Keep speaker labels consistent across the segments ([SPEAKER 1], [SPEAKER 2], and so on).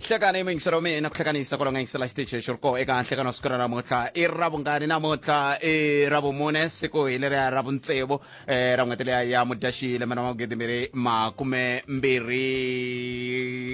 [SPEAKER 1] hlekana yingisela mina na ku hlekanisa kwala nga yingisela xitichi xi ri koho eka nhlekano siku ra namuntlha i ra vungani namuntlha i ra vumune siku hi leriya ra vuntsevu um ra n'hweti leya ya mudyaxiyi lembe na magidi mbirhi makume mbirhi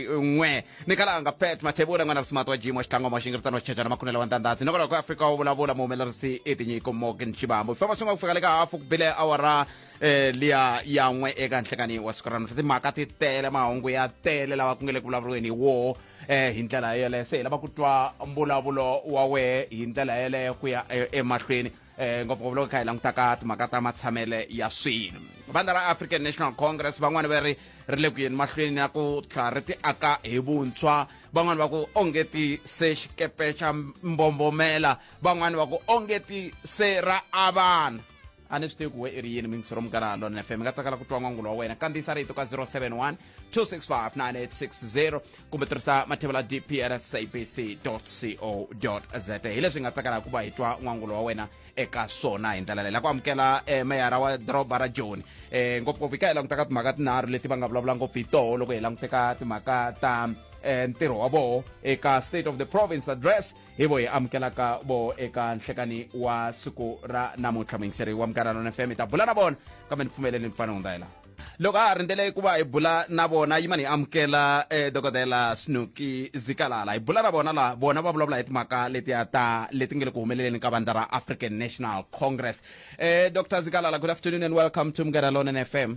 [SPEAKER 1] n'we ni kalanga pet mathebula n'wana risimato wa jimo xitlangoma xi ngiritano xitshajana makhunela wa ntandhatsi nakona ku afrika wu vulavula muhumelerisi i tinyiko morgan xibambo hi famba swi nga ku fika le ka hafu ku bile awara eh liya ya n'we eka nhlekani wa siku ra namuntlha timhaka ti tele mahungu ya tele lawa ku nge le ku vulavuriweni hi woho eh hi ndlela yeleyo se hi lava ku twa mbulavulo wa wehe hi ndlela yeleyo ku ya eh, emahlweni eh ngopfungopfu loko kha hi langutaka timhaka ta matshamele ya swilo vandla ra african national congress van'wani va ri ri le ku yeni mahlweni ya ku tlhela ri ti aka hi vuntshwa van'wani va ku onge ti se xikepe xa mbombomela van'wani va ku onge ti se ra avana a ni swi tivi ku we i ri yini mingisiro munghana lon fm mi nga tsakela ku twa n'wangulo wa wena kandziyisa rito ka 071 265 9860 kumbe tirhisa mathevela dp ra sabc co za hi leswi hi nga tsakelaka ku va hi twa n'wangulo wa wena eka swona hi ndlela leyi la ku amukela eh, meyara wa doroba ra joni eh, ngopfungopfu hi ka hi langutaka timhaka tinharhu leti va nga vulavula ngopfu hi toho loko hi languteka timhaka ta eh, ntirho wa voho eka state of the province address hi vo hi amukelaka vo eka nhlekani wa siku ra namuntlha muyingiseri wa munghana lona fm hi ta bula na vona kambe ni pfumeleleni fana hundza hi laha loko a ha rindzele ku va hi bula na vona yimani hi amukela eh, dokodela snuki zikalala hi bula na vona laha vona va vulavula hi timhaka letiya ta leti nge le ku humeleleni ka vandla ra african national congress eh, dr zikalala good afternoon and welcome to mngera lonan fm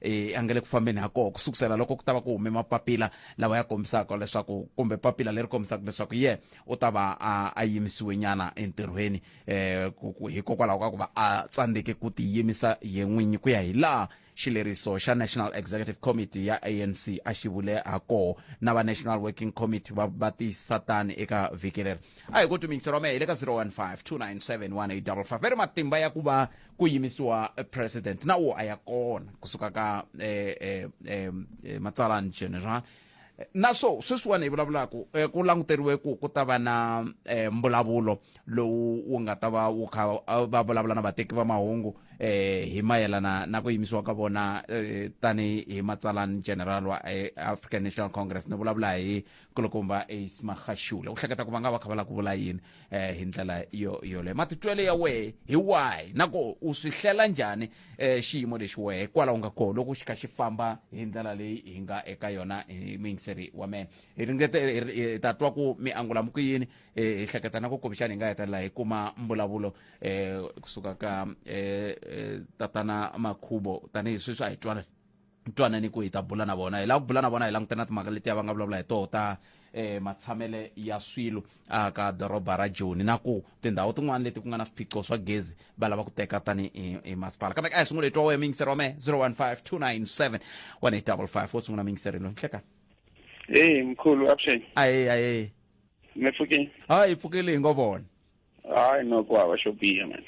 [SPEAKER 1] e, a nga le ku fambeni ha koho ku sukusela loko ku ta va ku hume mapapila lawa ya kombisaka leswaku kumbe papila leri kombisaka leswaku ye u ta va a yimisiwe nyana entirhweni um hikokwalaho ka ku va a tsandzeke ku tiyimisa ye n'winyi ku ya hi laha xileriso xa national executive committee ya anc a xi vule ha koho na va national working committee va va tiyisisa tani eka vhiki leri a hi ku tuminyiseriwa mehe hi le ka 015 297 1855 ri matimba ya ku va ku yimisiwa eh, president na wo a ya kona kusuka ka eh, eh, eh, eh, matsalani general Eh, na swo sweswiwani hi vulavulaku eh, ku languteriwe ku ku ta va na eh, mbulavulo lowu wu nga ta va wu kha ah, va vulavula na vateki va mahungu eh, hi mayelana na ku yimisiwa ka vona eh, tani hi matsalani general wa eh, african national congress ni vulavula hi kulukumba ace maxaxula u hleketa ku va nga va kha va lava ku vula yini um hi ndlela yo yoleyo matitwelo ya wehe hi wahi na ku u swi hlela njhani um xiyimo lexi wehe hikwalaho nga koho loko xi kha xi famba hi ndlela leyi hi nga eka yona hi muyingiseri wa mena hi ringete hi ta twa ku mi angula mi ku yini hi hleketa na ku kumbexana hi nga hetelela hi kuma mbulavulo um kusuka ka um tatana makhubo tanihi sweswi a hi twanani twanani ku hi ta bula na vona hi lava ku bula na vona hi langutana na timhaka letiya va nga vulavula hi toho ta eh matshamele ya swilo a ka doroba ra joni na ku tindhawu tin'wana leti ku nga na swiphiqo swa gezi va lava ku teka tani hi masipala kambe ka hi sungula hi twa wehe mingiseri wa mehe 015297 1855 wo sungula mingiseri loyi nhlekani eyi
[SPEAKER 2] mkhulu avuxeni aye aye
[SPEAKER 1] mi pfukile
[SPEAKER 2] hayi hi pfukile
[SPEAKER 1] hi ngo vona hayi no
[SPEAKER 2] ku hava xo biha man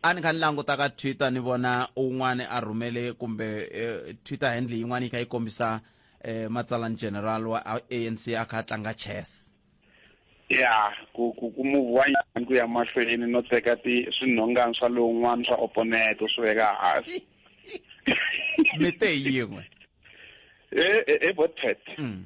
[SPEAKER 2] a ni kha ni
[SPEAKER 1] languta ka twitter ni vona un'wana a rhumele kumbe eh, twitter handle yin'wana yi kha yi kombisa eh, matsalani general wa anc a kha a tlanga chess ya
[SPEAKER 2] ku ku ku move wa nyana ku ya mahlweni no teka ti swinhongani swa lowun'wana swa opponent swi veka hansi
[SPEAKER 1] mi te yin'we e e, e botpet
[SPEAKER 2] mm.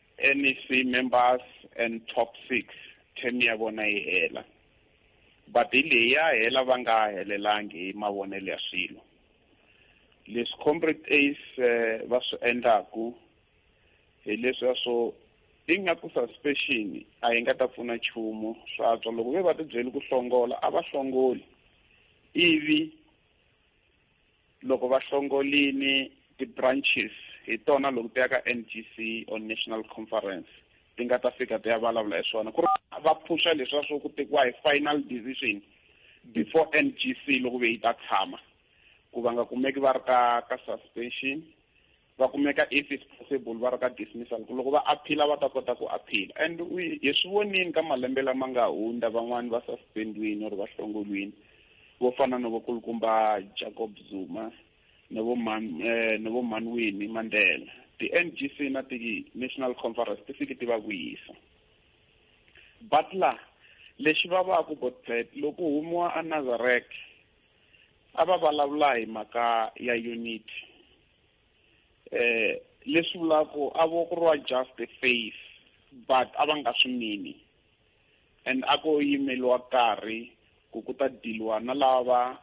[SPEAKER 2] NEC members and top six term ya vona yi hela but hi leyi ya hela va nga helelangi hi mavonelo ya swilo leswi comrade ace eh, va swi endlaku hi leswiya swo i nga ku suspension a yi nga ta pfuna nchumu swa tswa loko ve va tibyeli ku hlongola a va hlongoli ivi loko va hlongolini ti-branches hi tona loko ti ya ka n g c or national conference ti nga ta fika ti ya vulavula hi swona ku ri va phuxa leswiya swo ku tekiwa hi final decision before n g c loko ve yi ta tshama ku va nga kumeki va ri ka ka suspension va kumeka if is possible va ri ka dismissal ku loko va aphila va ta kota ku aphila and hi swi vonini ka malembe lama nga hundza van'wani va suspendiwini or va hlongolwini vo fana no vakulukumba jacob zuma no vo man eh, no vo manwini mandela ti-n g c na ti-national conference ti fike ti va vuyisa butler lexi va va ku botlet loko humiwa a nazarek a va vulavula hi mhaka ya unity eh leswi vulaku a vo ku riwa just a face but a va nga swi mini and a ko yimeliwa karhi ku ku ta diliwa na lava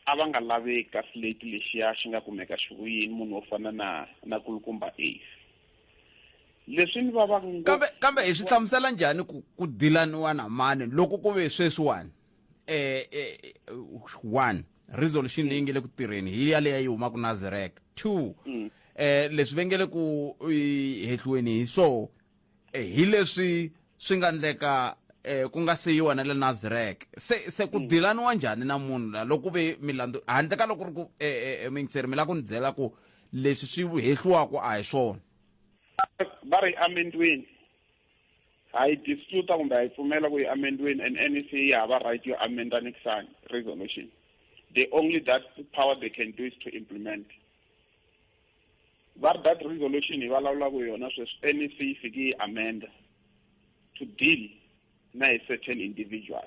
[SPEAKER 2] a va nga laveki ka slate lexiya xi nga kumeka xi ri yini munhu wo fana na na kulukumba ace leswi ni va va kambe kambe hi swi
[SPEAKER 1] hlamusela njhani ku ku dilaniwa na mani loko ku ve sweswiwani eh, eh, one resolution leyi nge le ku tirheni hi ya leyi yi humaka na zerek two mm. eh leswi ve nge le ku hehliweni hi swo eh, hi leswi swi nga ndleka eh ku nga se yiwa na le Nazarek se se ku mm. dilaniwa njhani na munhu la loko ve milandu handle ka loko ri ku eh, eh, eh mingiseri mi la ku ni byela ku leswi swi hehliwaka a hi swona va
[SPEAKER 2] ri amendweni ha yi dispute kumbe ha yi pfumela ku yi amendweni and nec yi hava right yo amenda next time resolution the only that power they can do is to implement va ri that resolution hi vulavulaka yona sweswi nec yi fike yi amenda to deal na hi certain individual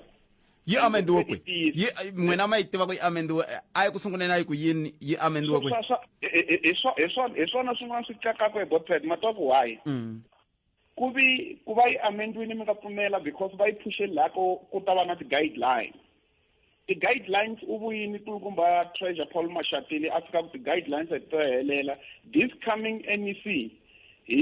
[SPEAKER 2] yi amendiwe
[SPEAKER 1] kwi yi n'wina ma yi tiva ku yi amendiwe a yi ku sunguleni a yi ku yini yi amendiwe kwi
[SPEAKER 2] hi swona swin'wana swi kakaka hi botpad ma twa ku why mm. ku vi ku va yi amendwini mi nga pfumela because va yi phushe laha ko ku ta va na ti-guidelines ti-guidelines u vuyini kulukumba treasure paul mashatile a fika ku ti-guidelines a ti to helela this coming mec hi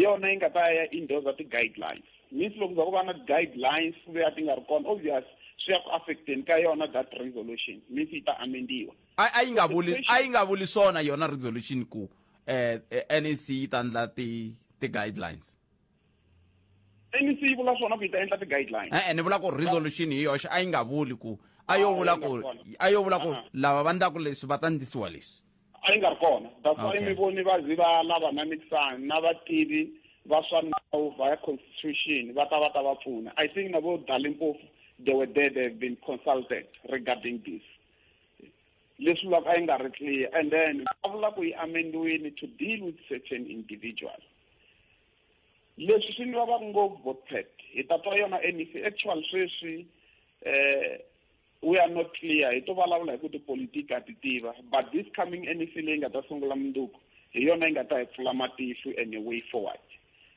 [SPEAKER 2] yona yi nga ta ya indosa ti-guidelines means loko za ku va na ti-guidelines ku ve a ti nga ri kona obvious swi ya ku affecteni ka yona that resolution means yi ta amendiwa a yi nga vuli
[SPEAKER 1] a yi nga vuli swona yona resolution ku eh, eh NEC yi ta ndla ti ti guidelines
[SPEAKER 2] NEC yi vula swona ku yi ta endla ti guidelines eh, eh ni vula ku resolution
[SPEAKER 1] hi yoxe a yi nga vuli ku a yo vula ku a yo vula ku lava va ndlaku leswi va ta ndlisiwa leswi a yi nga ri kona
[SPEAKER 2] that's why mi voni va zi va lava na mixani na vativi va swa nawu via constitution va ta va ta va pfuna i think na vo dalimpofu they were there they have been consulted regarding this leswi vulaka a yi nga ri clear and then a vula ku yi amendiwini to deal with certain individual leswi swi ni vava ngopfu botpet hi ta twa yona mec actual sweswi eh we are not clear hi to vulavula hi ku tipolitiki a ti tiva but this coming mec leyi nga ta sungula munduku hi yona yi nga ta hi pfula matihlo and a way forward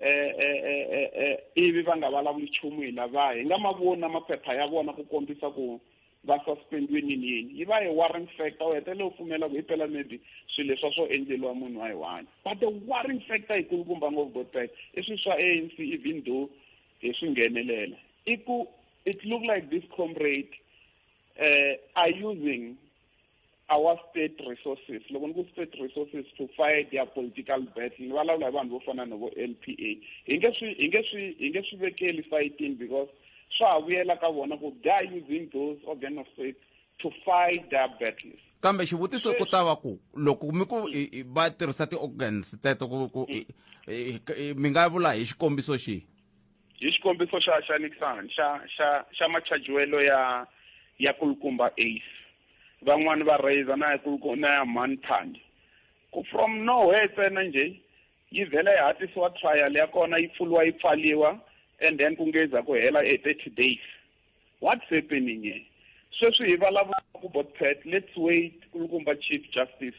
[SPEAKER 2] eh, eh, eh, ivi va nga vulavuli nchumu hi lava hi nga ma voni na maphepha ya vona ku kombisa ku va suspendiwe nini yini yi va hi warring factor u hetelela u pfumela ku hi pela maybe swilo leswa swo endleliwa munhu wa hi one but the warring factor yikulukumba ngopfu gotrek i swilo swa a n c even though hi swi nghenelela i ku it look like this comrade uh, are using our state resources loko ni ku state resources to fight their political battle ni vulavula hi vanhu vo fana no vo l p a hi nge swi hi nge swi hi nge swi vekeli fighting because swa ha vuyela ka vona ku they are using those organ of state to fight their battles kambe xivutiso ku
[SPEAKER 1] ta va ku loko mi ku va tirhisa ti-organs teto ku ku mi nga vula hi xikombiso xihi hi xikombiso
[SPEAKER 2] xa xa Nixon xa xa xa machajiwelo ya ya kulukumba ace van'wani va raiser na ya kulukumba na ya mhani thandi ku from nowhere ntsena njhe yi vhela yi hatlisiwa trial ya kona yi pfuriwa yi pfaliwa and then ku ngeza ku hela e thirty days What's happening here? Sweswi hi vulavula ku Botpet, let's wait kulukumba Chief Justice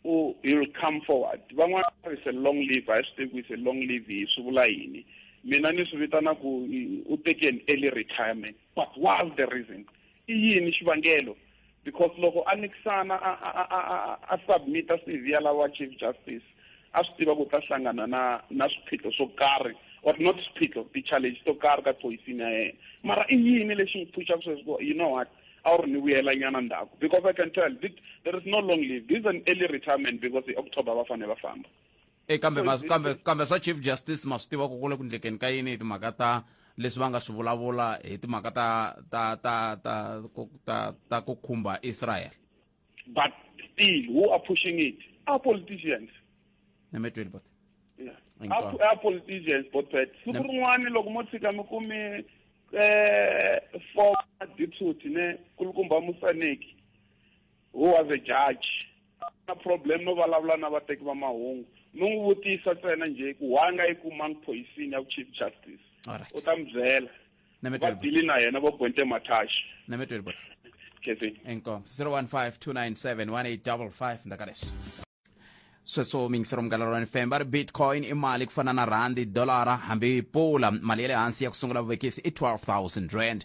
[SPEAKER 2] u he'll come forward. Van'wana va ri it's a long live, a hi swi tivi ku it's a long live hi swi vula yini. Mina ni swi vitana ku u teke an early retirement. But what's the reason? I yini xivangelo? because loko a nikisana a a a a a submita CV ya lava chief justice a swi tiva ku ta hlangana na na swiphiqo swo karhi or not swiphiqo ti-challenge to karhi ka choisini ya yena mara i yini lexi n'wi phuxaka sweswi ku you know what a wu ri ni vuyela nyana ndhaku because i can tell there is no long leave this is an early retirement because hi october va fanele va famba e kambe ma- kambe
[SPEAKER 1] kambe swa chief justice ma swi tiva ku ku le ku ndlekeni ka yini hi timhaka ta leswi va nga swi vulavula hi timhaka ta ta ta ta ku- ta ta ku khumba israel but
[SPEAKER 2] still who are pushing it are politicians nemetweni but Yeah. Thank Are- God. are politicians both sides siku Yep. rin'wana loko mo tshika mi kume eh former deputy ne kulukumba musaneki who was a judge na problem no vulavula na vateki va mahungu no n'wi vutisa ntsena njhe ku why nga yi kumanga poison ya chief justice u ta mi byela va dili na yena vo gwente mathaxi
[SPEAKER 1] enkom 015 297 1855 ndakaleswi sweswo mingisero munghana lorani fm va ri bitcoin i mali ku fana na rhandi dolara hambi pula mali ya le hansi ya ku sungula vuvekisi i 12000 rand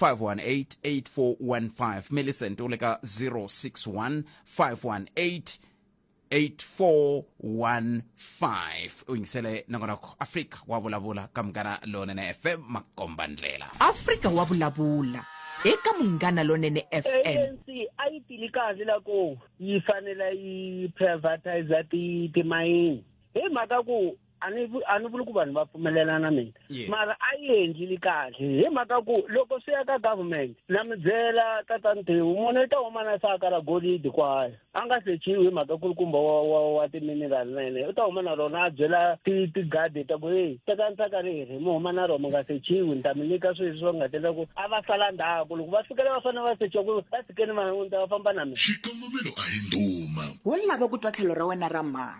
[SPEAKER 1] 518-8415 millicent u le ka 061 518 8415 u yingisele nongonoko afrika wa vulavula ka munghana lonene fm makomba ndlela afrika wa
[SPEAKER 3] vulavula eka munghana lonene fm anc a yi tili
[SPEAKER 4] kahle loko yi fanele yi privatiza ti timayini hi mhaka ku a ni a ni vuli ku vanhu va pfumelelana na mina yes. mara a yi endlili kahle hi mhaka ku loko swi ya ka government na mi byela tatani tiwu munhu i ta huma na saka ra golidi kwaya a nga sechiwi hi mhaka ku ri kumba wa wa wa timinerali na yena u ta huma na rona a byela tigadi ta ku heyi tekani saka riri mi huma na rona mi nga sechiwi ni ta mi nyika sweswi swa nga tela ku a va sala ndhaku loko va fikela va fanele va sechiwa ku va fikeni va ta va famba na mina xikongomelo a
[SPEAKER 5] hi ndhuma wo lava ku twa tlhelo
[SPEAKER 3] ra wena ra mhaka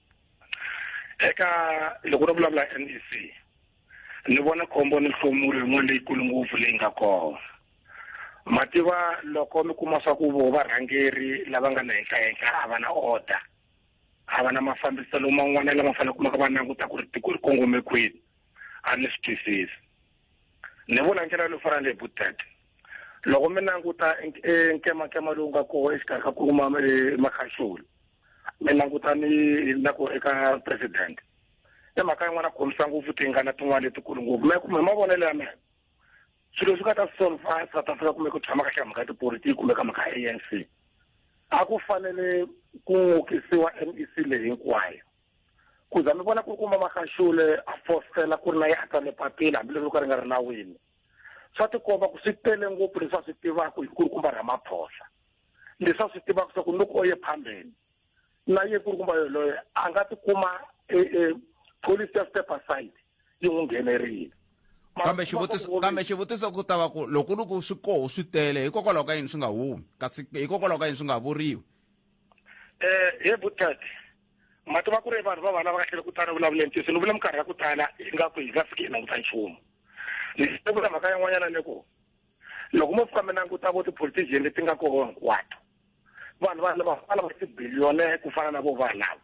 [SPEAKER 2] eka loko ro vulavula NEC ni vona khombo ni nhlomuri yin'wana leyikulu ngopfu leyi nga kona mativa loko mi kuma swa ku vo varhangeri lava nga na henhla henhla a va na order a va na mafambiselo man'wana lama fanele kumaka va languta ku ri tiko ri kongome kwini a ni swi twisisi ni vula ndlela yo fana leyi butet loko mi languta e nkemankema lowu nga koho exikarhi ka ku kuma e makhaxula mi languta ni na ku eka president i mhaka yin'wana ku khomisa ngopfu tingana tin'wana letikulu ngopfu me kumbe mavonelo ya mina swilo swi nga ta solva south africa kumbe ku tshama kahle mhaka tipolitiki kumbe ka mhaka anc a ku fanele ku n'okisiwa mec leyi hinkwayo ku za mi vona ku ri kuma makaxule a fositela ku ri na yahta ni papila hambileswi ka ri nga ri nawini swa tikomba ku swi tele ngopfu leswi a swi tivaka hi ku ri kumba ramaphosa leswi a swi tivaka swa ku loko o ye phambeni na ye ku ri kumba yoloye a nga tikuma e, e, police ya step aside yi n'wi nghenerile kambe xivutiso
[SPEAKER 1] kambe xivutiso ku ta va ku loko ri ku swi koho swi tele hikokwalaho ka yini swi nga humi kasi hikokwalaho ka yini swi nga vuriwi
[SPEAKER 2] um he butati ma tiva ku ri vanhu va vana va kahlele ku tala vulavule ntiyiso ni vula minkarhi ya ku tala hi nga ku hi nga fiki hi languta nchumu ni vula mhaka yan'wanyana ni ku loko mo fika mi languta vo ti-politician leti nga koho hinkwato vanhu va lava va lava tibiliyone ku fana na vo vanhu lava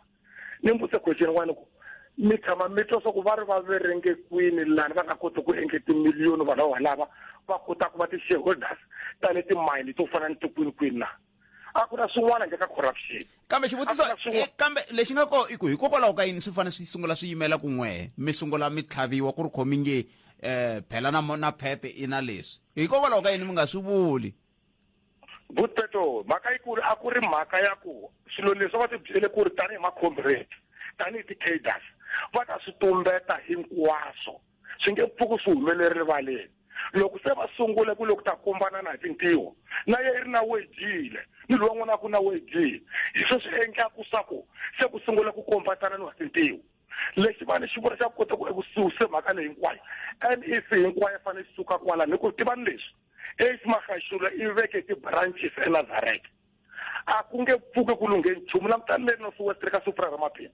[SPEAKER 2] ni mbutse question n'wana ku mi tshama mi twa swa ku va ri va verenge kwini lani va nga koti ku endle timiliyoni vanhu va valava va kota ku va ti-shareholders ta le timayini to fana ni tikwini kwini na a ku na swin'wana njhe ka corruption kambe xivutiso eh,
[SPEAKER 1] kambe lexi nga ko i ku hikokwalaho ka yini swi fanele swi sungula swi yimela kun'we mi sungula mi tlhaviwa ku ri khomi nge um phela na na phete i na leswi hikokwalaho ka yini mi nga swi vuli good
[SPEAKER 2] peto mhaka yikulu a ku ri mhaka ya ku swilo leswi va ti byele ku ri tanihi macomrade tanihi ti-caders va ta swi tumbeta hinkwaswo swi nge pfuki swi humelele rivaleni loko se va sungule ku loko ta kombana na hi tintiho na ye ri na wedile ni loyi n'wana ku na wedile hi swo swi endlaku swa ku se ku sungula ku kombatana ni wa tintiho lexi vanhu xi vula xa ku kota ku eku suse mhaka leyi hinkwayo nec hinkwayo fane xi suka kwalani hi ku tivani leswi eight magaxula i veke ti-branches enazareta a ku nge pfuki ku lunghe nchumu langutani le north west le ka supra ra maphina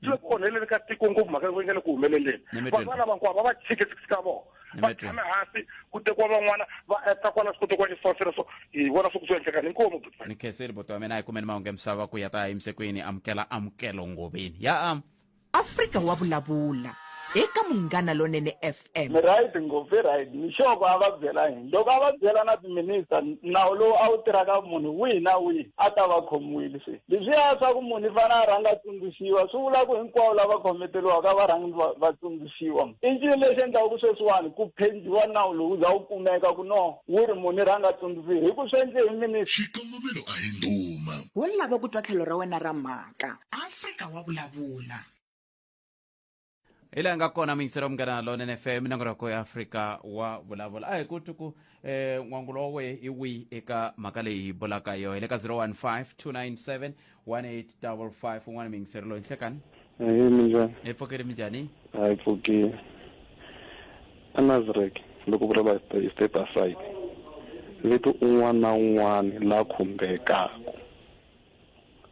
[SPEAKER 2] ti le ku onheleni ka tiko ngopfu mhaka yi nga le ku humeleleni vanhu va lava hinkwavo va va tshike six ka vona va tshame hansi ku tekiwa van'wana va eka kwala swi kotekiwa xisosela so hi vona swi ku swi endlekani inkomu ni khenseli boto wa
[SPEAKER 1] mina hi
[SPEAKER 2] kumeni
[SPEAKER 1] mahungu emisava ku ya ta yimise ku yini amukela amukelo ngoveni ya am afrika wa
[SPEAKER 3] vulavula eka munghana lonene f M. mi right ngopfu i
[SPEAKER 6] right mixoko a va byela yini loko a va byela na timinista nawu lowu a wu tirhaka munhu wihi na wihi a ta va khomiwile se leswiya swa ku munhu i fanele a rhanga a tsundzuxiwa swi vula ku hinkwavo lava khometeliwaka va rhangi va- va tsundzuxiwa i ncini lexi endlaka ku sweswiwani ku phendiwa nawu lowu za wu kumeka ku no wu ri munhu i rhanga a tsundzuxiwa hi ku swi endle hi minista Xikongomelo a hi
[SPEAKER 5] ndhuma. Wo lava ku twa
[SPEAKER 3] tlhelo ra wena ra mhaka. Afrika wa vulavula. hi laha
[SPEAKER 1] nga kona miyingiselo munghana lonene fm minongonoko ya afrika wa vulavula a hi ku tuku um eh, n'wangulo wa wehe i wihi eka mhaka leyi hi bulaka yoho hi le ka 015 297 1855 un'wana miyingiselo loyi nhlekani ehe minjhani
[SPEAKER 7] hi pfukile minjhani
[SPEAKER 1] a hi
[SPEAKER 7] pfukile a nazarek loko vulavula hi step aside leti un'wana na un'wana la khumbekaku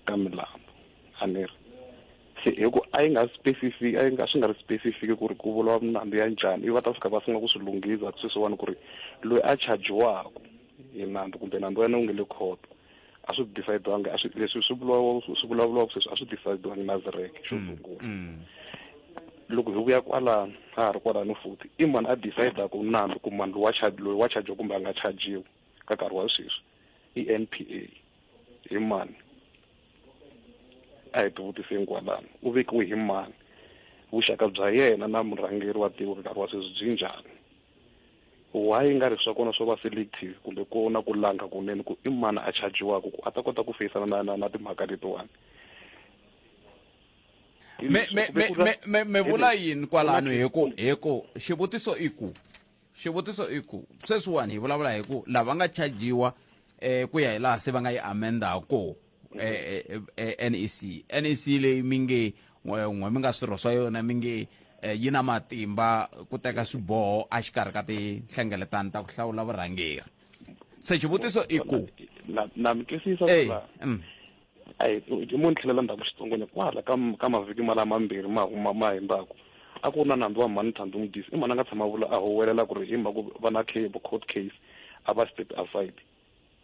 [SPEAKER 7] ka milambu a ni ri se hi ku a yi nga specific a yi nga swi nga ri specific ku ri ku vuriwa milambu ya njhani i va ta fika va sungula ku swi lunghisa sweswiwani ku ri loyi a chajiwaku hi nandzu kumbe nandzu wa yena wu nge le khoto a swi decide-wangi a swi leswi swi vulawa swi vulavuriwaka sweswi a swi decide-wangi na zireke xo mm, sungula mm. loko hi vuya kwalano ha ha ri kwalano futhi i mani a decide-aku nandzu ku mani loyi wa loyi wa chajiwa kumbe a nga chajiwi ka nkarhi wa sweswi i n p a hi mani a hi tivutiseni kwalano u vekiwe hi mani vuxaka bya yena na murhangeri wa tiko ka nkarhi wa sweswi byi njhani why yi nga ri swa kona swo va selective kumbe ku na ku langa kunene ku i mani a chajiwaka ku a ta kota ku feyisana na na na timhaka letiwani
[SPEAKER 1] me me me me me me vula yini kwalano hi ku hi ku xivutiso i ku xivutiso i ku sweswiwani hi vulavula hi ku lava nga chajiwa eh ku ya hi laha se va nga yi amenda ha kona eh, eh, eh, eh NEC NEC leyi mi nge n'we mi nga swirho swa yona mi nge eh, yi na matimba ku teka swiboho a xikarhi ka tinhlengeletano ta ku hlawula vurhangeri se xivutiso i ku na mi
[SPEAKER 7] twisisa eh, mm. a hi hi mo ni tlhelela ndzhaku xitsongwana kwala ka ka mavhiki ma lama mambirhi ma huma ma himbaku a ku ri na nandzu wa mhani thandi n'wi disi i mhani a nga tshama a vula a huwelela ku ri hi mhaka ku va na cable court case a va step aside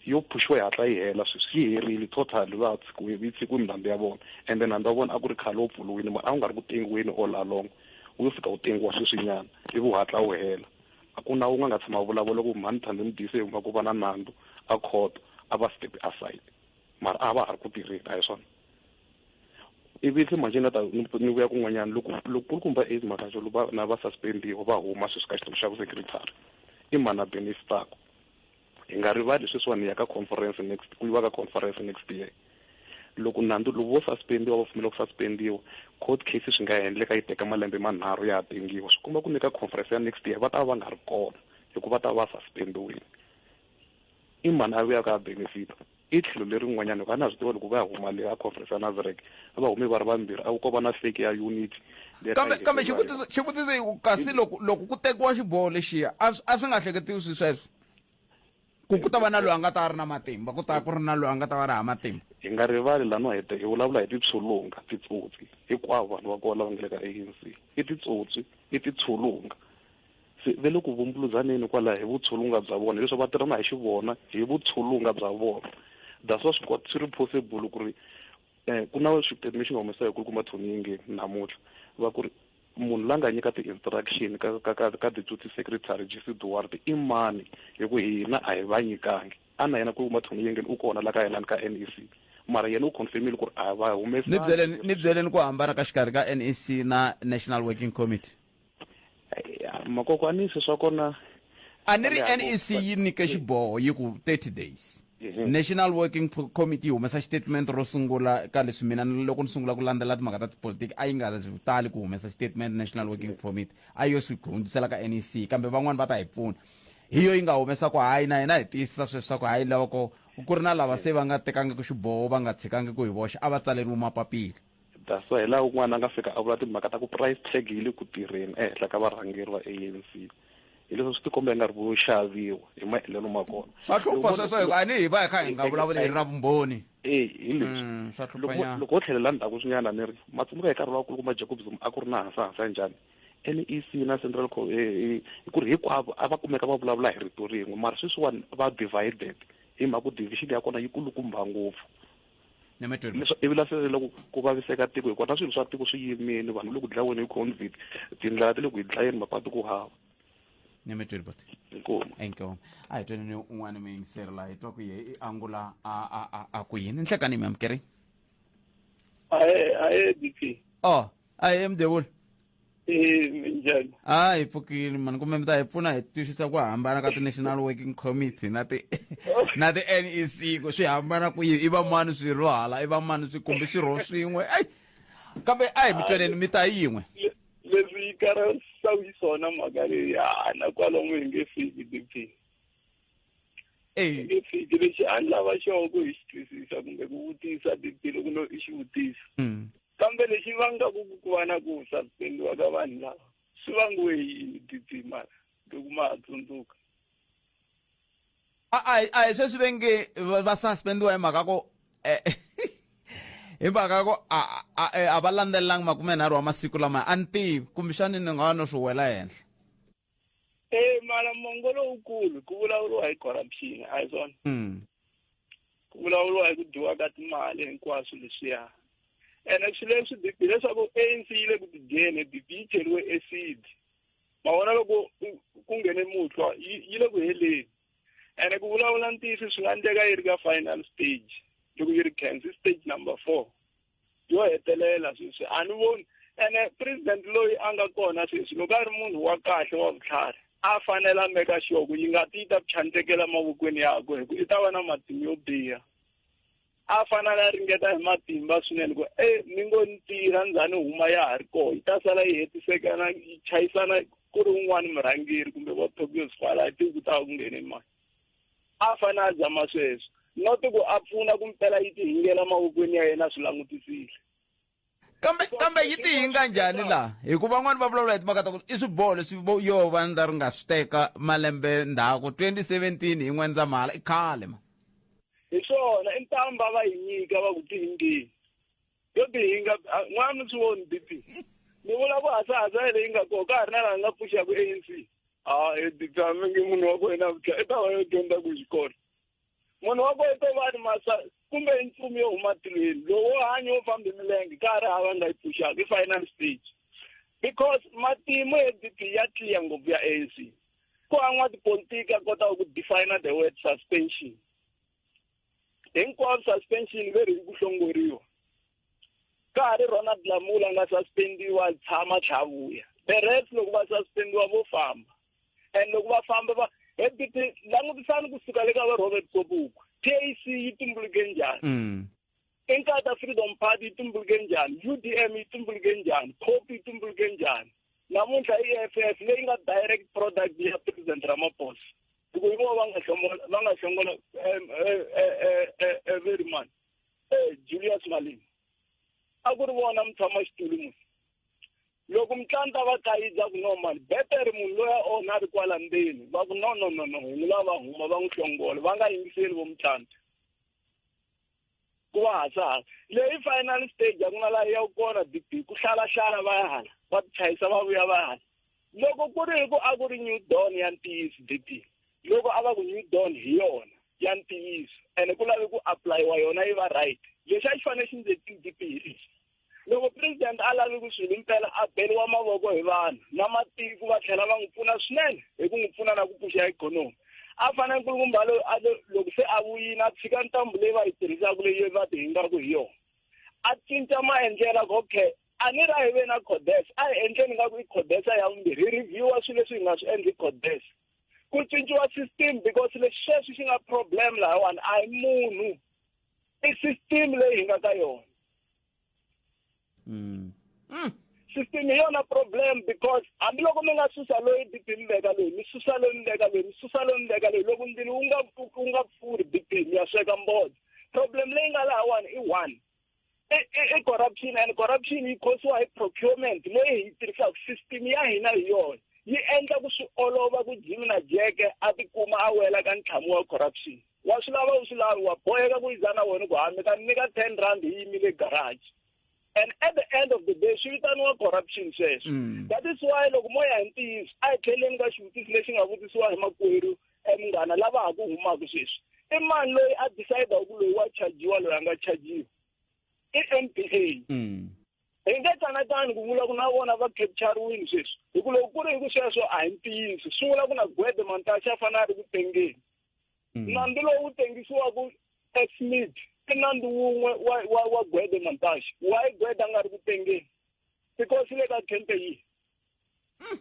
[SPEAKER 7] yo phuxiwa yi hatla yi hela sweswi yi herile total va tshikiwe yi tshikiwe milandzu ya vona ende nandzu wa vona a ku ri khale wu pfuriwile mara a wu nga ri ku tengiweni all along wu yo fika wu tengiwa sweswinyana ivi wu hatla wu hela a ku na wun'we a nga tshama a vulavula ku mhani thandi n'wi dise hi mhaka ku va na nandzu a court a va step aside mara a va ha ri ku tirheni a hi swona ivi se manje na ta ni vuya kun'wanyana loko loko ku ri kumba eight makaxo va na va suspendiwa va huma sweswi ka xitulu xa vusecretary i mani a benefitaka hi nga rivali sweswiwani ya ka conference next ku yiva ka conference next year loko nandzu loko vo suspendiwa va pfumela ku suspendiwa court case swi nga endleka yi teka malembe manharhu ya ha tengiwa swi komba ku ni ka conference ya next year va ta va va nga ri kona hikuva va ta va va suspendiwile I mani a vuyaka a benefita? I tlhelo leri n'wanyana hikuva a na swi tiva loko va ya huma leyi a conference ya Nazarek a va humi va ri vambirhi a ku ko va na fake ya unit kambe kambe
[SPEAKER 1] xivutiso xivutiso i ku kasi loko loko ku tekiwa xiboho lexiya a a swi nga hleketiwi swi sweswo ku ku ta va na loyi a nga ta a ri na matimba ku ta ku ri na loyi a nga ta va ri hava matimba hi nga rivali lano
[SPEAKER 7] hi hi vulavula hi titshulunga titsotsi hinkwavo vanhu va kona lava nga le ka anc i titsotsi i titshulunga Se ve le ku vumbuluzaneni kwalaho hi vutshulunga bya vona, leswaku va tirhana hi xivona hi vutshulunga bya vona. That's why swi swi ri possible ku ri eh, ku na xiphemu lexi nga humesa hi kulukumba Tony Yingeni namuntlha va ku ri munhu la nga nyika ti-instruction ka ka ka ka deputy secretary jc duwarte i mani hi ku hina a hi va nyikangi a na yena kulukumba Tony Yingeni u kona la ka yena ni ka nec mara yena u confirmile ku ri a va ni byeleni ni humesanga byeleni ku
[SPEAKER 1] hambana ka xikarhi ka nec na national working committee
[SPEAKER 7] makokwani se swa kona a ni ri
[SPEAKER 1] nec yi nyike xiboho yi ku 30 days mhm. national working committee yi humesa xitatement ro sungula ka leswi mina loko ni sungula ku landzela timhaka ta tipolitiki a yi nga tali ku humesa xitatement national working mhm. committee a yo swi hundzisela ka nec kambe van'wani va ta hi pfuna hi yo yi nga humesa ku hayi na hina hi tiyisisa sweswi swa ku hayi loko ku ri na lava se va nga tekangiki xiboho va nga tshikangi ku hi voxe a va tsaleriwi mapapila that's why hi laha
[SPEAKER 7] un'wana a nga fika a vula timhaka ta ku price tag yi le ku tirheni ehenhla ka varhangeri va anc hi leswi swi tikomba yi nga ri vo xaviwa hi maendlelo ma kona swa hlupha sweswo hikuva
[SPEAKER 1] a ni hi va hi kha hi nga vulavuli hi ra vumbhoni e hi leswi
[SPEAKER 7] mm, loko wo tlhelela ndzhaku swinyana ni ri matsumuka hi nkarhi wakulu kuma jacob zuma a ku ri na hansa hansa njhani nec na central co e, e, hi ku ri hinkwavo a va kumeka va vulavula hi rito rin'we mara sweswiwani va divided hi mhaka ku division ya kona yi kulukumba ngopfu ivi lasele loko ku vaviseka tiko hikwalaho na swilo swa tiko swi yimile vanhu loku dlaweni hi covid tindlela ti le ku hi dlayeni mapatu ku hava nemetweni bot
[SPEAKER 1] enkomo a hi tweni ni un'wana miyingiseri laha hi twa ku ye i angula a ku yini nhlekani mi amukeri ahe
[SPEAKER 6] ahe dp o ahe
[SPEAKER 1] mdevula
[SPEAKER 6] Eh, minjhani a hi
[SPEAKER 1] pfukile mani kumbe mi ta hi pfuna hi twisisa ku hambana ka ti-national working committee na ti na ti-n e c ku swi hambana ku yini i va mani swirho hala i va mani swi kumbe swirho swin'we ai kambe a hi mi tweneni mi ta yin'we Le- leswi
[SPEAKER 8] yi karasaku yi swona mhaka leyi hana kwalomu hi nge fiki dp hi eyi nge fiki lexi a ni lava xona ku hi xi twisisa kumbe ku vutisa dp loko no i xi vutisa mm. Kambe lexi vangaku ku ku va na ku sakuteriwa
[SPEAKER 1] ka vanhu lava swi vangiwe hi yini Didyimana loko ma ha tsundzuka? A a hi a hi sweswi ve nge va va suspendiwa hi mhaka ko hi mhaka ko a a a va landzelelanga makumenharhu wa masiku lamaya a ni tivi kumbexani ni nga va no swi wela henhla. Eh
[SPEAKER 8] mara mongo lowukulu ku vulavuriwa hi corruption a hi swona Mm. ku vulavuriwa hi ku dyiwa ka timali hinkwaswo leswiya ene swi leswi BP leswaku ANC yi le ku tidyeni BP yi cheriwe acid ma vona loko ku- ku nghene muhlwa yi yi le ku heleni ene ku vulavula ntiyiso swi nga endleka yi ri ka final stage loko yi ri cancer stage number four yo hetelela sweswi a ni voni ene president loyi a nga kona sweswi loko a ri munhu wa kahle wa vutlhari a fanele a meka sure ku yi nga ti yi ta ku chantekela mavokweni yakwe hi ku i ta va na matimu yo biha a fanele a ringeta hi matimba swinene ku e ni ngo ni tirha ndzhani huma ya ha ri koho yi ta sala yi hetisekana yi chayisana ku ri un'wana murhangeri kumbe vo tobios fala hi tiku ta ku nghene mani A fane a zama sweswo, not ku a pfuna ku mpela yi tihingela mavokweni ya yena a swi langutisile. kambe
[SPEAKER 1] kambe yi tihinga njhani laha hikuva van'wani va vulavula hi timhaka ta ku i swiboho leswi vo yo va ndza ri nga swi teka malembe ndzhaku 2017 hi n'wendzamhala i khale ma Hi
[SPEAKER 8] swona, i ntambha va yi nyika va ku tihingeni. yo bihi yi nga a- n'wana mi swi voni dp mi vula ku hasahasa yele yi nga koho ka ha ri na laha nga pfuxaku anc a e dp a mi nge munhu wa ku yena vutla i ta va yo dyondza ku xikolo munhu wa ku i to va ni masa kumbe i nchumu yo huma tilweni lowo hanya wo fambi milenge ka ha ri hava nga yi pfuxaka i final stage because matimu ya dp ya tliya ngopfu ya anc ku an'wa tipolitiki a kota ku defina the word suspension hinkwavo suspension ve ri ku hlongoriwa ka ha ri ronald lamula nga suspendiwa tshama tlhavuya the rest loko va suspendiwa vo famba and loko va famba va hebuti langutisani kusuka le ka va robert kobuku pac yi tumbuluke njhani mm. inkatha freedom party yi tumbuluke njhani udm yi tumbuluke njhani cop yi tumbuluke njhani namuntlha i-f f leyi nga direct product ya president ramaphosa loko hi vona va nga hlongola va nga hlongola everyman julius malini a ku ri vona mutshama xitulu munhu loko mutlanta va thayiza ku no mani betere munhu loyi a onha a ri kwala ndzeni va ku no no no no hi n'wi lava huma va n'wi hlongola va nga yingiseli vo mutlanta ku va hasala leyi final stage a ku na laha ya kona bp ku hlalahlala va ya hala va tichayisa va vuya va hala loko ku ri hi ku a ku ri new dawn ya ntiyiso bp loko a va ku new dawn hi yona ya ntiyiso ene ku lave ku apulayiwa yona yi va right lexi a xi fanele xi ndzi ti-dp hi lexi loko president a lavi ku swilo impela a beriwa mavoko hi vanhu na matiko va tlhela va n'wi pfuna swinene hi ku n'wi pfuna na ku pfuxa ikhonomi a fana nkulukumba loyi a loko se a vuyini a tshika ntambu leyi va yi tirhisaka leyi va ti hingaku hi yona a cinca maendlela ku okay a ni ra hi ve na codes a hi endleni nga ku i codesa ya vumbirhi hi reviewa swilo leswi hi nga swi endli codes ku cinciwa system because leswi sweswi xi nga problem lahawani a hi munhu i system leyi hi nga ka yona mm. Mm. system hi yona problem because hambiloko mi nga susa loyi bp mi veka loyi mi susa loyi mi veka loyi mi susa loyi mi veka loyi loko ndzilo wu nga wu nga pfuri bp mi ya sweka mbodo problem leyi nga lahawani i one i e, e, e corruption and corruption yi khosiwa hi procurement leyi hi yi tirhisaka system ya hina hi yona yi endla ku swi olova ku jimi na jeke a tikuma a wela ka ntlhamu wa corruption wa swi lava u swi lavi wa boheka ku yiza na wena ku hambi ka nyika ten rand yi yimile garage and at the end of the day swi vitaniwa corruption sweswo mm. that is why loko mo ya hi ntiyiso a hi tlheleni ka xivutiso lexi nga vutisiwa hi makwerhu e munghana lava ha ku humaka sweswi i mani loyi a decide ku loyi wa chajiwa loyi a nga chajiwa i n p a mm. hi nge tsanatani ku vula ku na vona va capturiwini sweswi hi ku loko ku ri hi ku sweswo a hi ntiyiso swi vula ku na gwede mantaxi a fanele a ri ku tengeni mm. nandzu lowu wu tengisiwaka esmith i nandzu wun'we wa wa wa gwede mantaxi wayi gwede a nga ri ku tengeni because le ka campe yihi mm.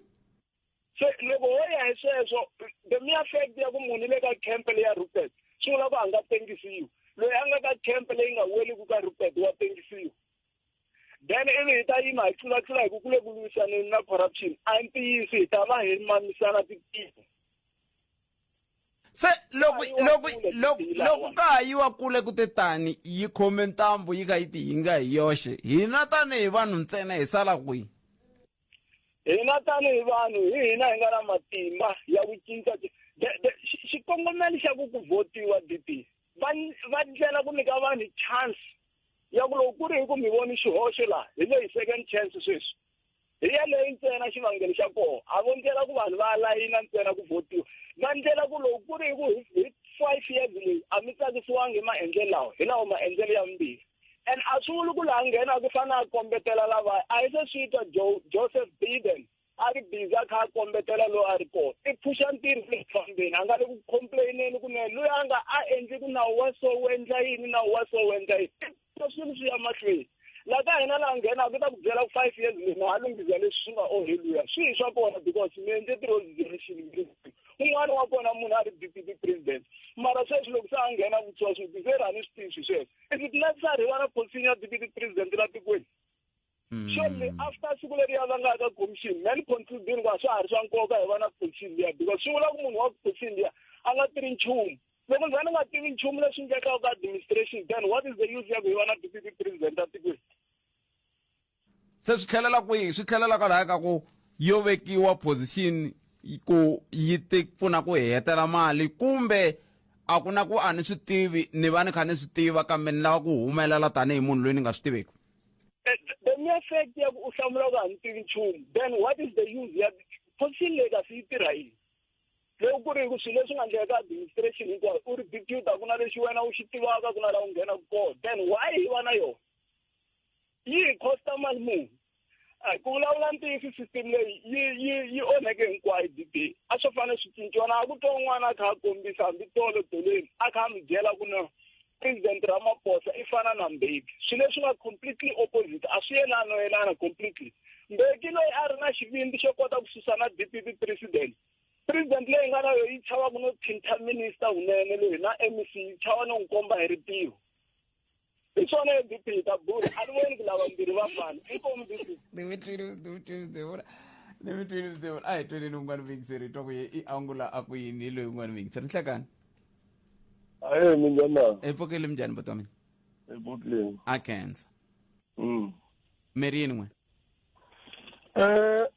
[SPEAKER 8] se loko ho ya hi sweswo the mere fact ya ku munhu le ka camp leyi ya rupert swi vula ku a nga tengisiwi loyi a nga ka camp leyi nga weli ku ka rupert wa tengisiwa then ivi hi ta yima hi tlulatlula hi ku ku le ku lwisaneni na corruption a yi ntiyisi hi ta va hi mamisana titiko
[SPEAKER 1] se loko loko loko loko ka ha yiwa kule ku te tani yi khome ntambu yi kha yi tihinga hi yoxe hina tanihi vanhu ntsena hi sala kwihi
[SPEAKER 8] hina tanihi vanhu hi hina hi nga na matimba ya ku cinca xikongomelo xa ku ku votiwa DP va va ndlela ku nyika vanhu chance ya ku loko ku ri hi ku mi voni xihoxo laha hi leyi second chance sweswi hi yeleyo ntsena xivangelo xa koho a vo ndlela ku vanhu va layina ntsena ku votiwa va ndlela ku loko ku ri hi ku hi five years leyi a mi tsakisiwangi hi maendlelo lawa hi lawo maendlelo ya vumbirhi and a swi vuli ku laha nghena ku fana a kombetela lava a yi se swi twa joseph biden a ri biza kha a kombetela loyi a ri kona i phuxa ntirho le fambeni a nga le ku complaineni ku ne loyi a nga a endli ku nawu wa so wu endla yini nawu wa so wu endla yini swilo swi ya mahlweni la ka hina laha nghenaka ku ta ku byela ku five years leyi na ha lunghisa leswi swi nga onheliwa swi hi swa kona because mi endle ti-resolution un'wana wa kona munhu a ri deputy president mara sweswi loko se a nghena vutswa swi biserani swi tivi swi sweswo and it lets a rivala commission ya deputy president la tikweni surely mm. after siku leri ya vanga ka commission man concluding ku a swa ha ri swa nkoka hi vana commission liya because swi vula ku munhu wa commission liya a nga tiri nchumu loko ndza ni nga tivi nchumu leswi endlekaka ka administration then what is the use ya ku hi vana deputy president a tikweni
[SPEAKER 1] Se swi tlhelela kwihi? Swi tlhelela kwalaya ka ku yo vekiwa position ku yi ti pfuna ku hi hetela mali kumbe a ku na ku a ni swi tivi ni va ni kha ni swi tiva kambe ni lava ku humelela tanihi munhu loyi ni nga swi tiveki the
[SPEAKER 8] mere fact ya ku u hlamula ku a ni tivi nchumu then what is the use ya position leyi kasi yi tirha yini loko ku ri ku swilo leswi nga endleka ka administration hinkwayo u ri deputa ku na lexi wena u xi tivaka ku na laha u nghenaka kona then why yi va na yona yi hi costa mali muni a ku vulavula ntiyiso system leyi yi yi yi onheke hinkwayo dd a swo fanele swi cinciwa na ku twa un'wana a kha a kombisa hambi tolo doleni a kha a mi byela ku no president ramaphosa i fana na mbeki swilo leswi nga completely opposite a swi yelano yelana completely mbeki loyi a ri na xivindi xo kota ku susa na dpp president president leyi nga na yo yi chava ku no thinta minister hunene loyi na mec yi chava no n'wi komba hi ripiro hi swona hi bibele ta bula a ni voni ku lava mbirhi va fana inkomu bibele ni mi
[SPEAKER 1] twile ni mi twile ni vona ni mi twile ni vona a hi tweleni un'wana vuyingiseri hi twa ku ye i angula a ku yini hi loyi un'wana vuyingiseri nhlekani
[SPEAKER 9] aye minjana hi pfukile minjani buti wa mina
[SPEAKER 1] hi pfukile
[SPEAKER 9] a kenza
[SPEAKER 1] mm miri yini n'we eh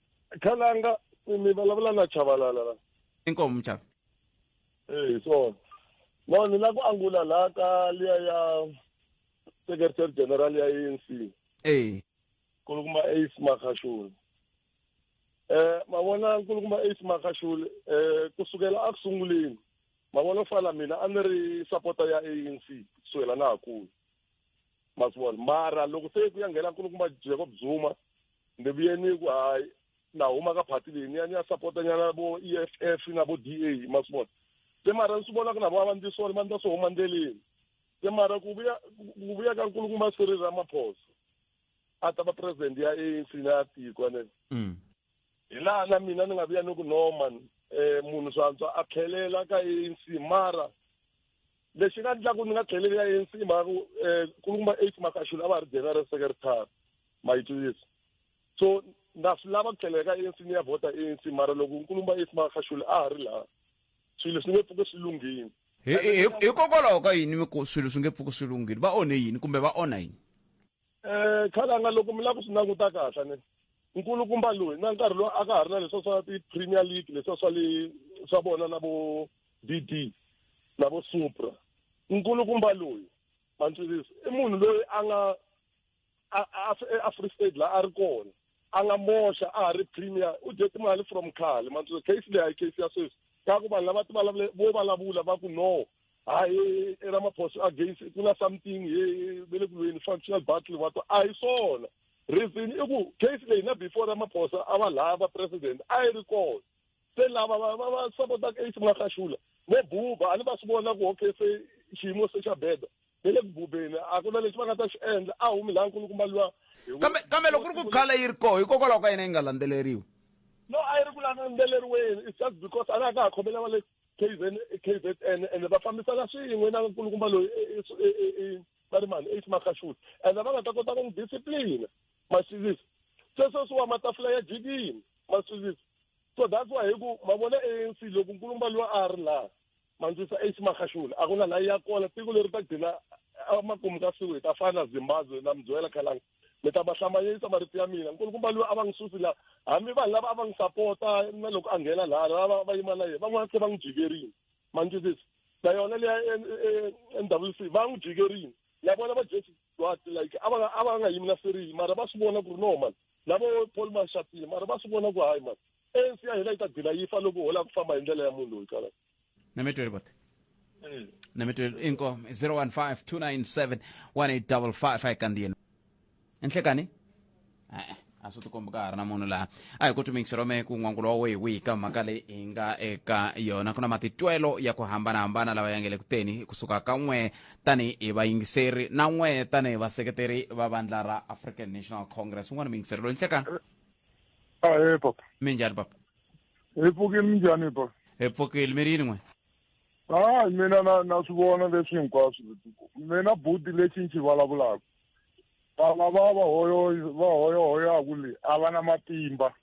[SPEAKER 9] khalanga mi vulavula na chavalala inkomu mchava
[SPEAKER 1] ee hi
[SPEAKER 9] swona no ni la ku angula laha ka liya ya secretary general ya anc ee nkulukumba ace makashule eh mavona nkulukumba ace makashule eh kusukela a ku sunguleni mavona fala mina a ni ri sapota ya anc kusukela na ha kulu ma swi vona mara loko se ku ya nghena nkulukumba jacob zuma ni vuye ni ku hayi na huma ka party leyi ni ya ni ya sapota nyana vo e f f na vo d a ma swi vona se mara ni swi vona ku na vona va ndzi swona va ndza swi huma ndleleni se mara ku vuya ku vuya ka nkulukumba sirili ra maphoso a ta va president ya anc na ya tiko ne mm. hi laha na mina ni nga vuya ni ku norman um eh, munhu swantswa a tlhelela ka anc mara lexi nga ndlaku ni nga tlheleli ya ANC mhaka ku um eh, kuluma eight makaxula a va ha ri general secretary ma yi twisisa so ndza swi lava ku tlhela eka anc ni ya vhota anc mara loko nkulumba if makashule a ha ri laha swilo swi nge pfuke swi lunghini hikokwalaho
[SPEAKER 1] ka yini mi ku swilo swi nge pfuke swi lunghini va onhe yini kumbe va onha yini um
[SPEAKER 9] khalanga loko mi lava ku swi languta kahle ni nkulukumba loyi na nkarhi lowu a ka ha ri na leswa swa ti-premier league leswa swa le swa vona na vo d d na vo supra nkulukumba loyi mantswirisi i munhu loyi a nga eafree state la a ri kona a nga moxa a ha ri premier u dye timali from khale mantswe case leyi a yi case ya sweswi ka ku vanhu lava ti vulavule vo vulavula va ku no hayi eramaphosa against ku na something ye ve le ku lweni functional battle va to a hi swona reason i ku case leyi na before ramaphosa a va lava president a yi ri kona se lava va va va sapotaka eish makaxula vo buba a ni va swi vona ku okay se xiyimo se xa beda ve le ku bubeni a ku na lexi va nga ta xi endla a humi laha nkulukumba luwa kambe kambe loko ku ri
[SPEAKER 1] ku khale yi ri koho hikokwalaho ka yena yi nga landzeleriwi no a yi ri
[SPEAKER 9] ku landzeleriweni it's just because a nga ka ha khomela va le kzn kzn ende va fambisana swin'we na nkulukumba loyi va ri mani eish makaxula ende va nga ta kota ku n'wi discipline ma swivisa se sweswiwa matafula ya jikini ma swivisa so that's why hi ku ma vona anc loko nkulumba loyi a ri laha mandzisa eish makhashula a ku na layi ya kona tiko leri ta gcina emakumu ka siku hi ta fana na zimbabwe na mbyela khalanga mi ta ma hlamanyisa marito ya mina nkulukumba loyi a va n'wi susi laha hambi vanhu lava a va n'wi sapota na loko a nghena laha lava va yima na yena van'wana se va n'wi jikerini mandzisisi na yona leya nwc va n'wi jikerini ya vona va jesi but like a va a va nga yimi na serili mara va swi vona ku ri no mani lavo paul mashatile mara va swi vona ku hayi mani anc ya hina yi ta gcina yi fa loko hola ku famba hi ndlela ya munhu loyi kala nametweli bote mm.
[SPEAKER 1] nametweli inkomo 015 297 1855 ayikandiye enhlekani e-e a swi tikombi ka ha ri na munhu laha a hi ku tumingiserome ku n'wangulo wa wihi wihi ka mhaka leyi hi nga eka yona ku na matitwelo ya ku hambanahambana lawa ya nge le ku teni kusuka ka n'we tanihi vayingiseri na n'we tanihi vaseketeri va vandla ra african national congress un'wana muyingiseri loyi nhlekani ahe
[SPEAKER 10] papa minjhani papa
[SPEAKER 1] hi pfukile
[SPEAKER 10] minjhani papa hi pfukile mi ri yini
[SPEAKER 1] n'we hayi
[SPEAKER 10] mina na na swi vona leswi hinkwaswo mina buti lexi ni xi vulavulaka Vana va va hoyo va hoyohoyaku le a va na matimba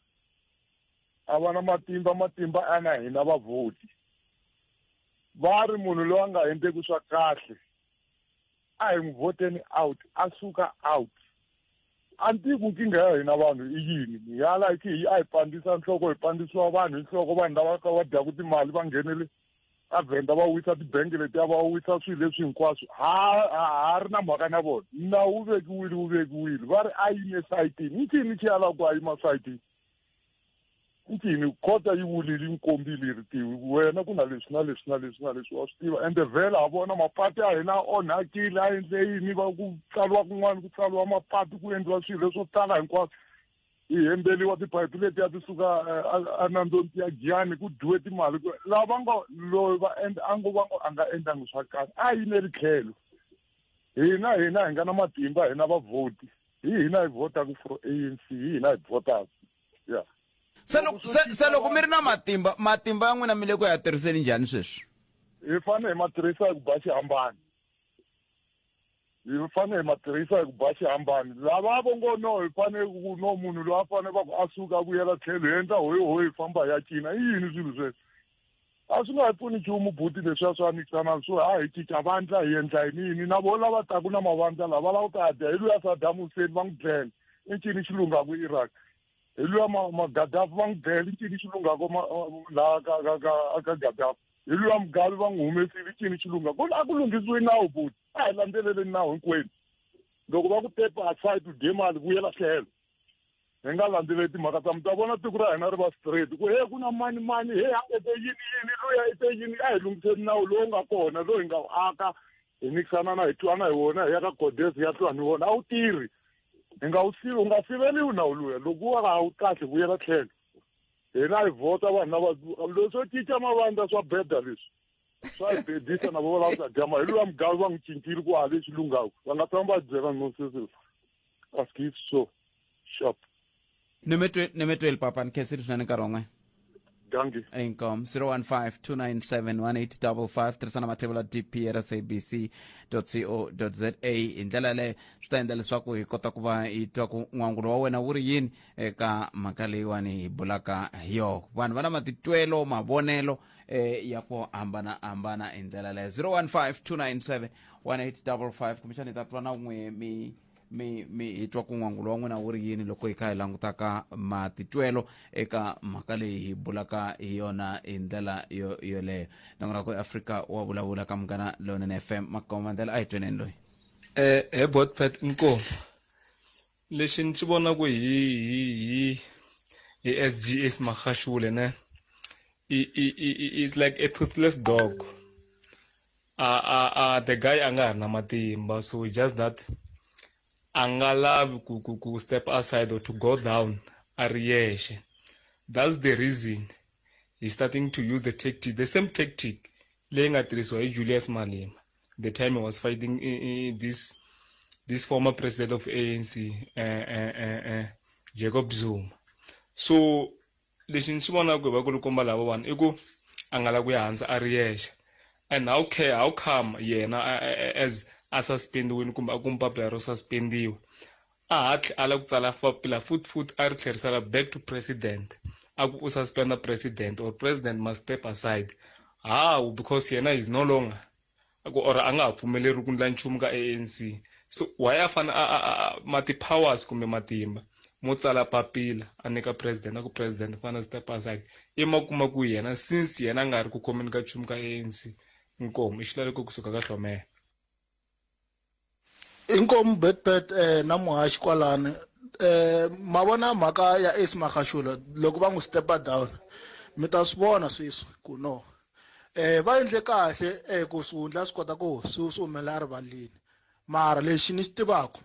[SPEAKER 10] a va na matimba matimba a na hina vavhoti va ri munhu loyi a nga endleki swa kahle a hi n'wi voteni out a suka out a ni tivi ku nkingha ya hina vanhu i yini hi ya like hi a hi pandisa nhloko hi pandisiwa vanhu hi nhloko vanhu lava ka va dyaku timali va nghenele va vhenda va wisa tibangi letiya va wisa swilo leswi hinkwaswo ha ha ri na mhaka na vona nawu wu vekiwile wu vekiwile va ri a yime esayitini i ncini xi yalaka ku a yima sayitini ncini khota yi vulile yi kombile yi ri tiwi wena ku na leswi na leswi na leswi na leswi wa swi tiva ende vhela ha vona mapatu ya hina a onhakile a endle yini va ku tsaliwa kun'wana ku tsaliwa mapatu ku endliwa swilo leswo tala hinkwaswo ti hembeliwa tiphayiphi letiya ti suka enandzoni eh, ti ya giyani ku dyiwe timali laha va ngo loyi va endla a ngo va ngo a nga endlangi swa kahle a yi ne ri tlhelo hina hina hi nga na matimba hina vavhoti hi hina hi votaku for a n c hi hina hi votaku ya se loko se
[SPEAKER 1] se loko mi ri na matimba matimba ya n'wina mi le ku ya tirhiseni njhani sweswi hi fanele hi
[SPEAKER 10] ma tirhisa hi ku ba xihambani hi fanele hi ma tirhisa hi ku ba xihambani lava vo ngo no hi fanele ku no munhu loyi a fanele va ku a suka a vuyela tlhelo hi endla hoyi hoyi hi famba hi ya cina i yini swilo sweswo a swi nga hi pfuni nchumu buti leswiya swa mikisana swo ha hi cinca vandla hi endla yini yini na vo lava taku na mavandla lava lava ku ta dya hi luya sadamu huseni va n'wi dlele i ncini xilungaku iraq hi luya magadafi va n'wi dele cini xi lungako laha ka ka ka ka gadafi hi luya mugavi va n'wi humesile cini xi lunga ku a ku lunghisiwi nawu buti a hi landzeleleni nawu hinkwenu loko va ku tepa aside u dye mali vuyela tlhelo hi nga landzeleli timhaka ta mi ta vona tiko ra hina ri va straight ku he ku na mani mani he a ete yini yini luya ete yini a hi lunghiseni nawu lowu nga kona loyi hi nga wu aka hi nikisana na hi twana hi wona hi ya ka godes ya twana hi wona a wu tirhi hi nga wu sivi u nga siveliwi nawu luya loko wa ha wu kahle vuyela tlhelo hina hi vhota vanhu lava leswi swo cinca mavandla swa beda leswi swa hi bedisa na vona lava sadyama hi luya mugavi va n'wi cincile ku ha lexi lunghaku va nga tshama va byela nonsense va skis so shop
[SPEAKER 1] nemetweli papa ni khensile swinene nkarhi wan'we danki
[SPEAKER 10] inkom 015
[SPEAKER 1] tirhisana mathevula dpr sabc co za hi ndlela yaleyo swi ta endla leswaku hi kota ku va hi twa ku n'wangulo wa wena wu ri yini eka mhaka leyiwani hi bulaka hi yoho vanhu va na matitwelo mavonelo eh, ya ku hambanahambana hi ndlela leyo 015 297 1855 kumbexani hi ta twa na n'we mi mi mi hi twa ku n'wangulo wa n'wina wu ri yini loko hi kha hi langutaka matitwelo eka mhaka leyi hi bulaka hi yona hi ndlela yo yoleyo nongonako eafrika wa vulavula ka munghana lowunene f m makomandlela a hi tweneni loyi eh he
[SPEAKER 11] botpet nkomo lexi ni xi vonaku hi hi hi hi sgs makhashule ne i i i i- it's like a toothless dog a a a the guy a nga ha ri na matimba so just that a nga lavi ku ku ku step aside or to go down a ri yexe that's the reason he starting to use the tactic the same tactic leyi nga tirhisiwa hi julius malema the time he was fighting in, in this this former president of anc uh, uh, uh, uh, jacob zuma so lexi ni xi vonaka hi vakulukumba lavawani i ku a nga lavi ku ya hansi a ri yexe and how care how come yena as a suspendiwile kumbe a kume papila ro suspendiwa a hatli a lava ku tsala papila futhi futhi a ri tlherisela back to president a ku u suspenda president or president must step aside hawu because yena is no longer ku or a nga ha pfumeleriwi ku ndla nchumu ka ANC so why a fane ma ti-powers kumbe matimba mo tsala papila a nyika president a ku president fana zita pasaki i ma kuma ku yena since yena a nga ri ku khomeni ka nchumu ka ANC inkomu i xilaveko kusuka ka hlomela
[SPEAKER 12] inkomu betbet eh, na muhaxi kwalani eh, ma vona mhaka ya ace magashola loko va n'wi stepa down mi ta swi vona sweswi ku no eh va endle kahle eh ku swihundla swi kota ku swi swi humela erivaleni mara lexi ni xi tivaka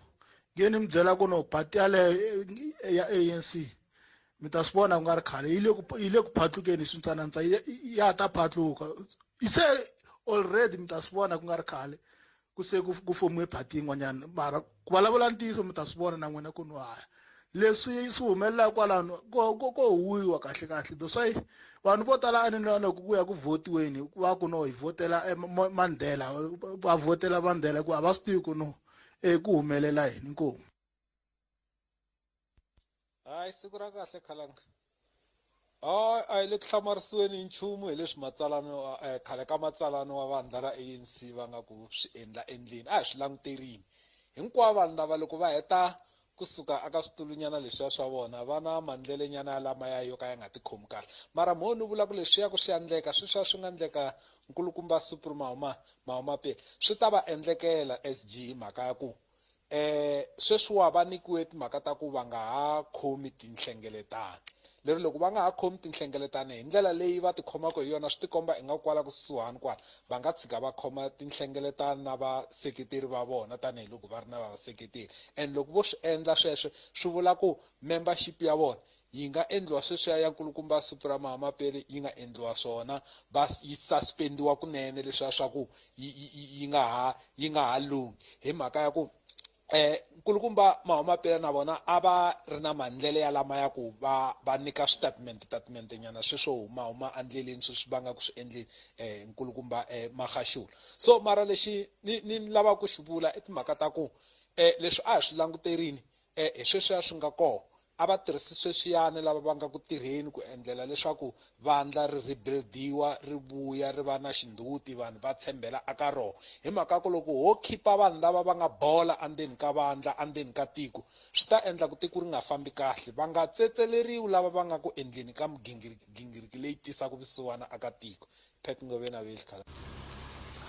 [SPEAKER 12] nge ni mi byela ku no party yaleyo eh, ya anc mi ta swi vona ku nga ri khale yi le ku yi le ku phatlukeni hi swintsanantsa ya ta phatluka se already mi ta swi vona ku nga ri khale ku se ku ku fomiwe party yin'wanyana mara ku vulavula ntiyiso mi ta swi vona na n'wina ku no haya leswi swi humelelaka kwalano ko ko ko huwiwa kahle kahle that's why vanhu vo tala a ni na loko ku ya ku votiweni va ku no hi votela eh, mandela va votela mandela ku a va swi tivi ku no um ku humelela yini inkomu
[SPEAKER 13] hayi siku ra kahle khalanga hayi a hi le ku hlamarisiweni hi nchumu hi leswi matsalano eh, khale ka matsalano wa vandla ra anc va nga ku swi endla endleni a hi swi languterini hinkwavo vanhu lava loko va heta kusuka aka switulunyana leswiya swa vona va na mandlelenyana ya lamaya yo ka ya nga tikhomi kahle mara mo ni vula ku leswiya ku swi ya ndleka sweswiya swi nga ndleka nkulukumba supri mahuma mahuma pele swi ta va endlekela sg mhaka ya ku Eh, sweswiwa va nikiwe timhaka ta ku va nga ha khomi tinhlengeletano leri loko va nga ha khomi tinhlengeletano hi ndlela leyi va tikhomaka hi yona swi tikomba inga kwala kusuhani kwala va nga tshika va khoma tinhlengeletano na vaseketeri va vona tanihiloko va ri na vaseketeri and loko vo swi endla sweswe swi vula ku membership ya vona Yi nga endliwa sweswiya ya nkulukumba siku ra Mahamapele yi nga endliwa swona bas yi suspendiwa kunene leswiya swa ku yi yi yi nga ha yi nga ha lunghi hi mhaka ya ku eh nkulukumba Mahamapele na vona a va ri na mandlele ya lama ya ku va va nyika switatimende tatimende nyana sweswo huma huma andleleni sweswi va nga ku swi endleni eh nkulukumba eh Magaxula so mara lexi ni ni lava ku xi vula i timhaka ta ku eh leswi a hi swi languterini eh hi sweswiya swi nga kona A va tirhisi sweswiyani lava va nga ku tirheni ku endlela leswaku vandla ri rhibildiwa ri vuya ri va na xindhuti vanhu va tshembela aka roho. Hi mhaka ku loko ho khipa vanhu lava va nga bola andzeni ka vandla, andzeni ka tiko, swi ta endla ku tiko ri nga fambi kahle. Va nga tsetseleriwi lava va nga ku endleni ka migingiriki leyi tisaka vusiwana aka tiko. Pat Ngovena Wilkar.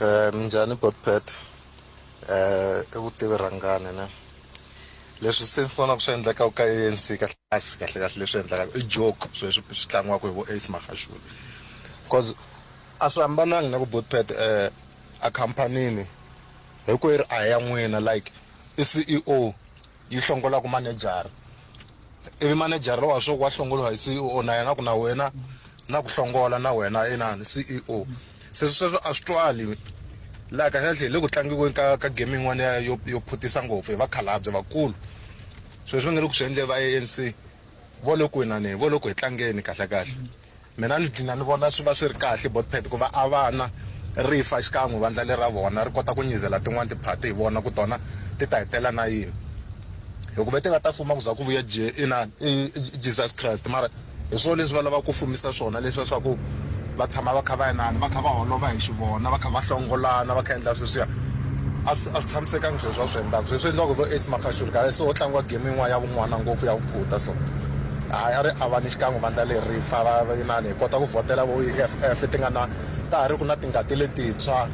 [SPEAKER 13] Eh
[SPEAKER 14] minjhani Bot Pat? Eh i vutivi rhangani ne? Leswi se ni vonaka swi endlekaka ka ANC kahle kasi kahle kahle leswi endlekaka i joke sweswi swi tlangiwaka hi vo Ace Magashule. Cause a swi hambananga na ku Bot Pat eh a khampanini hinkwerhu a hi ya n'wina like i CEO yi hlongola ku manejara ivi manejara lowa swo wa hlongoliwa hi ceo na yena ku na wena na ku hlongola na wena inani ceo se sweswo a swi twali laha kahlekahle hi le ku tlangiweni ka ka game yin'wana ya yo yo phutisa ngopfu hi vakhalabye vakulu sweswi va nge le ku swi endle va anc vo le ku winaneni vo le ku hi tlangeni kahlekahle Mina ni dlina ni vona swi va swi ri kahle body pad ku va a vana ri fa xikan'we vandla le ra vona ri kota ku nyizela tin'wani tiphati hi vona ku tona ti ta hetelela na yini hi ku ve ti nga ta fuma ku za ku vuya inani i Jesus Christ mara hi swona leswi va lavaka ku fumisa swona leswiya swa ku va tshama va kha va inani va kha va holova hi xivona va kha va hlongolana va kha endla sweswiya a swi a swi tshamisekanga sweswi va swi endlaka sweswi endliwaka vo Ace Makhaxuruka se ho tlangiwa game yin'wana ya vun'wana ngopfu ya Phuta so hayi a ri avani xikan'we vandla leri ri fa va inani hi kota ku vhotela vo EFF ti nga na ta ha ri ku na tingati letintshwa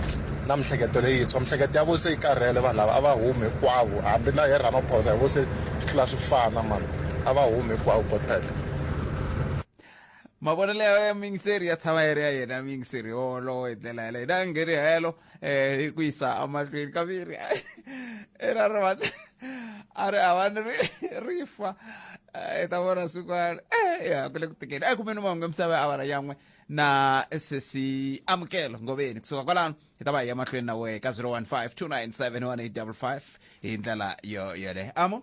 [SPEAKER 14] na mihleketo leyintshwa mihleketo ya vo se yi karhele vanhu lava a va humi hinkwavo hambi na he Ramaphosa hi vo se swi tlula swi fana mhani a va humi hinkwavo God Pete.
[SPEAKER 1] Mavonelo ya ya muyingiseri ya tshama ya ri ya yena muyingiseri yoloye hi ndlela yaleyo na ngheni helo eh ku yisa amahlweni kaviri era ri va a ri havani ri ri fa i ta vona swin'wana eh ya ku le ku tikeni a kumeni mahungu emisava ya avara yan'we na sesi amukelo ngoveni kusuka kwalano hi ta va hi ya mahlweni na wehe ka 015 297 1855 hi ndlela yo yoleyo amo